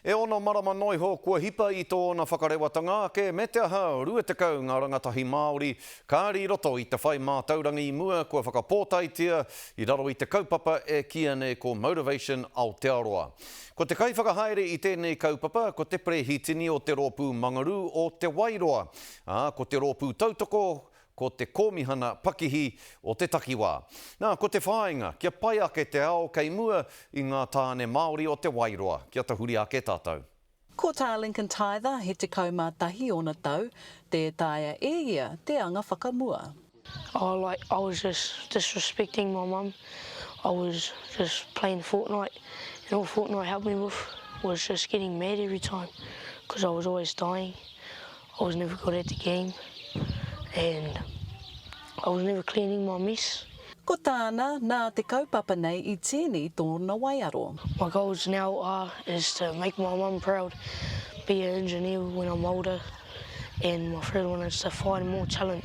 E ono marama noa iho kua hipa i tōna whakarewatanga ake me te aha 20 ngā rangatahi Māori kāri i roto i te whai mātauranga i mua kua whakapōtaitia i raro i te kaupapa e kīia nei ko Motivation Aotearoa. Ko te kaiwhakahaere i tēnei kaupapa ko te Perehitini o te Rōpū Mangarū o Te Wairoa, ā, ko te rōpū tautoko Ko te Kōmihana Pakihi o te Takiwā. Nā, ko te whāinga, kia pai ake te ao kei mua i ngā tāne Māori o Te Wairoa, kia tahuri ake tātou. Ko Tā Lincoln Tyther, he tekau mā tahi ōna tau, tē taea e ia te anga whakamua. Oh like I was just disrespecting my mum, I was just playing Fortnite and all Fortnite helped me with was just getting mad every time cause I was always dying, I was never good at the game and I was never cleaning my mess. Ko tāna, nā te kaupapa nei i tīni tōna waiaro. My goals now are is to make my mum proud, be a engineer when I'm older and my third one is to find more talent.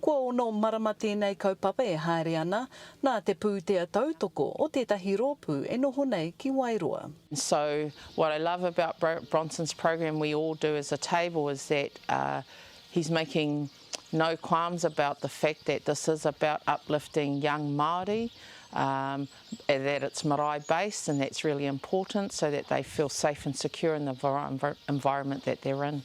Kua ono marama tēnei kaupapa e haere ana, nā te pūtea tautoko o tētahi rōpū e noho nei ki Wairoa. So what I love about Bronson's program we all do as a table is that he's making no qualms about the fact that this is about uplifting young Māori, that it's marae based and that's really important so that they feel safe and secure in the environment that they're in.